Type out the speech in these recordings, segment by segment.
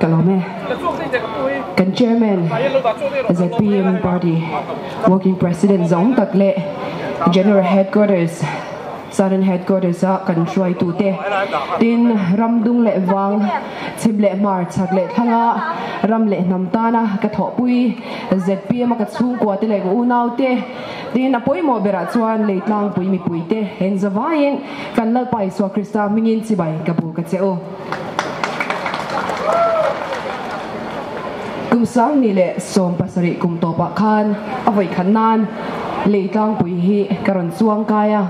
ka lo me kan chairman zpm party working president zawng tak leh general headquarters southern headquarters a kan hruaitu te tin ram dung leh vang chhip leh hmar chhak leh thlanga ram leh hnam tana ka thawhpui zpm a ka chhungkua te leh ka unaute tin a pawimawh berah chuan leitlangpui mipui te engzavaiin-- Kan Lalpa Isua Krista hmingin chibai ka bu ka che u. Kum Sangni leh Sawm pasarih kum tawpah khan a vawi khat nan lei tlangpui hi ka rawn chuang kai a,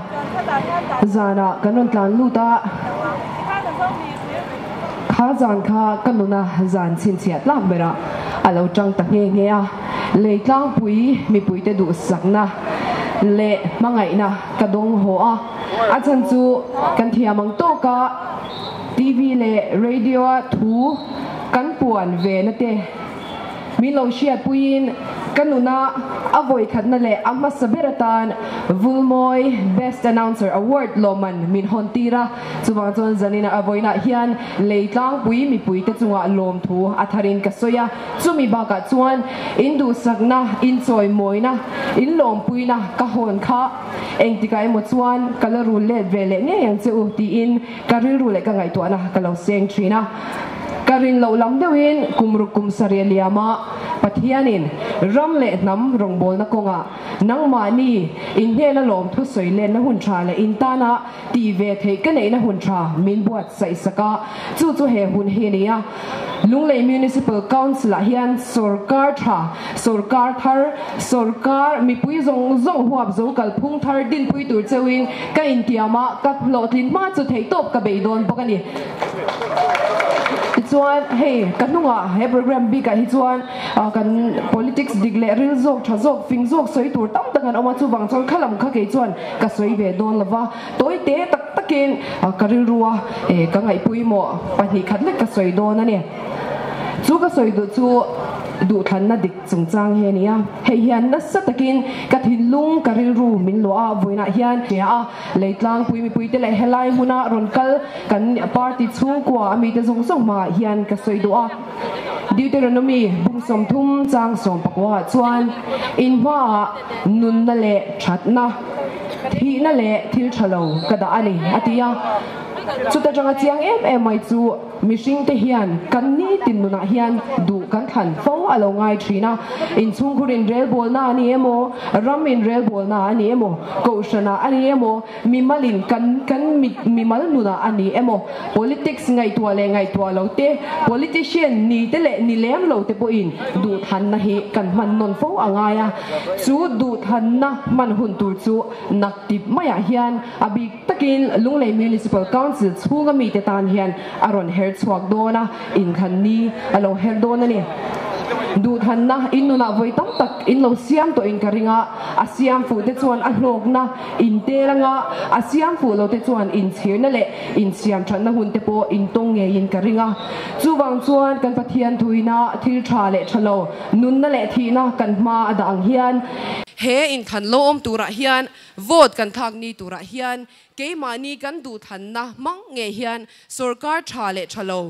zanah kan rawn tlan lut a, khar zan kha ka nuna zan chhinchhiah tlak berah a lo tang ta nghe nghe a, lei tlangpui mipuite duhsakna leh hmangaihna ka dawng haw a. A chan chu kan thiam ang tawk a, TV leh radio-a thu kan puan ve na te min lo hriat puiin ka nuna a vawikhatna leh a hmasa ber atan Vulmawi Best Announcer Award lawmman min hawn tir a, chuvang chuan zanin a vawiinah hian lei tlangpui mipui te chunga lawm thu a tharin ka sawi a, chumi bakah chuan in duhsakna, in chawimawina, in lawmpuina ka hawn kha. Engtikah emaw chuan ka la rul let ve leh ngei ang che u tiin ka rilru leh ka ngaihtuahna ka lo seng thin a. Ka rin loh lam deuhin kum ruk kum sarih liama Pathianin ram leh hnam rawngbawlna kawngah nangmahni inhnehna lawmthu sawi lenna hun tha leh intana tih ve theih ka neihna hun tha min buat saihsak a, chu chu he hun hi a ni a. Lunglei Municipal Council-ah hian sawrkar tha, sawrkar thar, sawrkar mipui zawng zawng huap zo kalphung thar dinpui tur cheuhin ka intiamah ka hlawhtlin hma chu theihtawp ka bei dawn bawk a ni. Tichuan hei ka hnungah he programme bikah hi chuan kan politics dik leh ril zawk tha zawk fing zawk sawi tur tam tak an awm a, chuvang chuan khalam kha kei chuan Ka sawi ve dawn lo va, tawi te tak takin ka rilru a, eh ka ngaihpui maw, pahnih khat lek ka sawi dawn a ni. Chu ka sawi duh chu duhthlanna dik chungchang hi a ni a, hei hian nasa takin ka thinlung ka rilru min luah a, vawiinah hian hria a, lei tlangpui mipuite leh helai hmuna rawn kal kan party chhungkua a mite zawng zawng hmaah hian ka sawi duh a, Deuteronomy bung sawmthum chang sawmpakua ah chuan in hmaah, nunna leh thatna, thihna leh thil tha lo ka dah a ni, a ti a. Chuta tanga chiang em em mai chu mihringte hian kan nitin nunah hian duh kan thlan fo a lo ngai thin a. Inchhungkhur inrelbawlna a ni emaw, ram inrelbawlna a ni emaw, kohhranah a ni emaw, Mimalin kan kan mit mimal nunah a ni emaw, politics ngaihtuah leh ngaihtuah lo te, politician ni te leh ni lem lo te pawhin duhthlanna hi kan hman nawn fo a ngai a. Chu duhthlanna hman hun tur chu Naktip maiah hian a bik takin Lunglei Municipal Council chhunga mite tan hian a rawn her chhuak dawn a, inthlan ni a lo her dawn a ni. Duhthlanna in nunah vawi tam tak in lo siam tawhin ka ring a, a siam fuh te chuan a hlawkna, Intel anga a siam fuh lote chuan inchhirna leh insiam thatna hunte pawh intawng ngeiin ka ring a. Chuvang chuan kan Pathian thuina thil tha leh tha lo, nunna leh thihna kan hma a dah ang hian, he inthan lo awm turah hian vote kan thlakni turah hian keimahni kan duhthlanna hmang nge hian sorkar tha leh tha lo,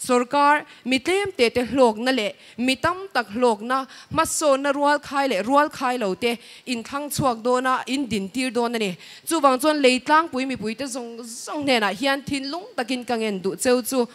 Sorkar, mi tlemte te hlawkna leh mi tam tak hlawkna hmasawnna rualkhai leh rualkhai lo te in thlang chhuak dawn a, in din tir dawn a ni. Chuvang chuan lei tlangpui mipuite zawng zawng hnenah hian thinlung takin ka ngen duh cheu chu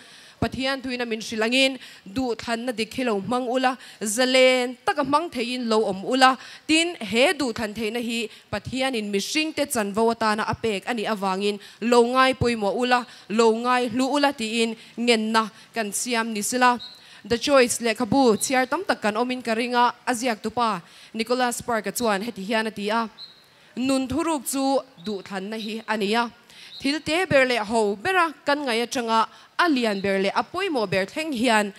Pathian tuina min hrilh angin duh thlanna dik hi lo hmang ula, zalen taka hmang theiin lo awm ula, tin he duh thlan theihna hi Pathianin mihringte chanvo atana a pek a nih avangin lo ngai pawimawh ula, Lo ngai hlu ula tiin ngenna kan siam ni sila. The Choice lehkhabu chhiar tam tak kan awmin ka ring a, a ziaktu pa Nicholas Park-a chuan heti hian a ti a, Nun thuruk chu duhthlanna hi a ni a, thil te ber leh ho bera kan ngaih atanga a lian ber leh a pawimawh ber thleng hian,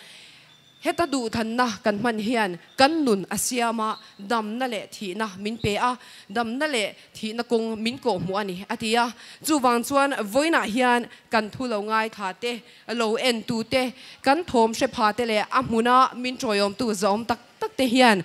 Heta duhthanna kan hman hian kan nun a siam a, damna leh thihna min pe a, damna leh thihna kawng min kawh hmu a ni, a ti a. Chuvang chuan vawiinah hian kan thu lo ngaithla te, lo en tu te, kan thawm hre pha te leh a hmuna min tawiawmtu zawm tak tak te hian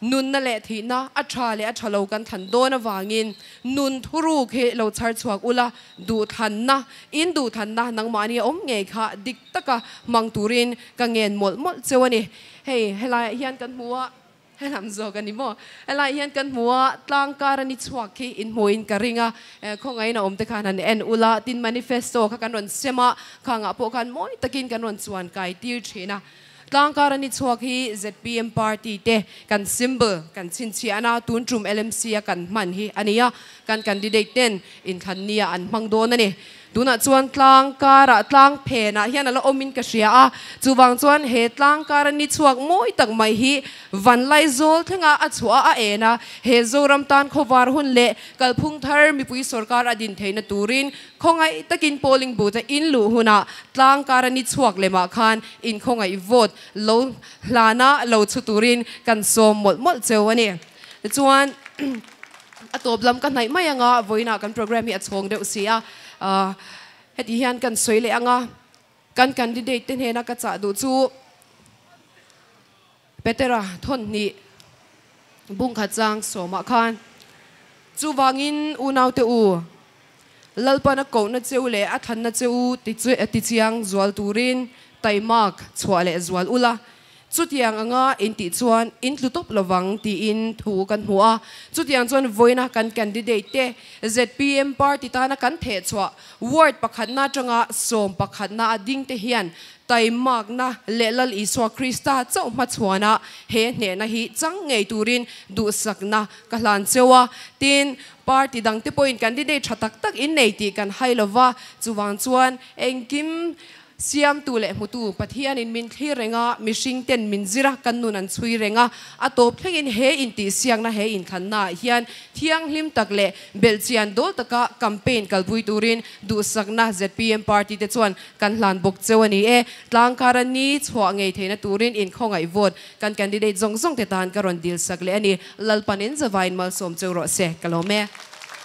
Nunna leh thihna a tha leh a tha lo kan thlan dawn avangin nun thuruk hi lo chhar chhuak ula, duhthlanna, in duhthlanna nangmahni a awm ngei kha dik taka hmang turin ka ngen mawlh mawlh cheu a ni. Hei, helaiah hian kan hmu a, helam zawk a ni maw? Helaiah hian kan hmu a, tlangkar a ni chhuak khi inhmuhin ka ring a, khawngaihna awmte khan han en ula, tin manifesto kha kan rawn sem a, khangah pawh khan mawi takin kan rawn chuan kaitir thin a. Tlangkar a ni chhuak hi zpm party te kan symbol kan chhinchhiah a na tun tum lmc a kan hman hi a ni a, kan candidate ten inthlan nia an hmang dawn a ni. Tunah chuan tlangkar ah tlang phen ah hian a la awm in ka hria a, chuvang chuan he tlangkar a ni chhuak mawi tak mai hi vanlai zawl thleng a a chhuah a a en a, he Zoram tan khawvar hun leh kalphung thar mipui sorkar a din theihna turin Khawngaih takin polling booth a in luh hunah tlang kar a ni chhuak lem ah khan in khawngaih vote lo hlan a lo chhu turin kan sawm mawlh mawlh cheu a ni. Tichuan a tawp lam ka hnaih mai anga vawiin ah kan programme hi a chhawng deuh si a. Heti hian kan sawi leh anga kan candidate te hnena ka chah duh chu. Petera thawhhnih bungkhat chang sawmah khan, Chuvangin unaute u, Lalpan a kohna cheu leh a thlanna cheu tichiang zual turin taimak chhuah leh zual ula, chutiang anga intih chuan in tlu tawp lovang tiin thu kan hmu a. Chutiang chuan vawina kan candidate te zpm party tana kan theh chhuah ward pakhatna atanga sawm pakhatna a ding te hian Taimakna leh Lal Isua Krista chauh hmachhuana he hnehna hi chang ngei turin duhsakna ka hlan cheu a. Tin, party dangte pawhin candidate tha tak tak in nei tih kan hai lo va, chuvang chuan engkim siamtu leh hmutu Pathianin min thlir reng a, mihring ten min zir a, kan nun an chhui reng a. A tawp thlengin he intihsiakna, he inthlanna ah hian thianghlim tak leh belhchian dawl taka campaign kalpui turin duhsakna zpm party te chuan Kan hlan bawk cheu a ni e. Tlangkara ni chhuah ngei theihna turin inkhawngaih vawt kan candidate zawng zawngte tan ka rawn dilsak leh a ni. Lalpanin zavaiin malsawm cheu rawh se ka lawm e.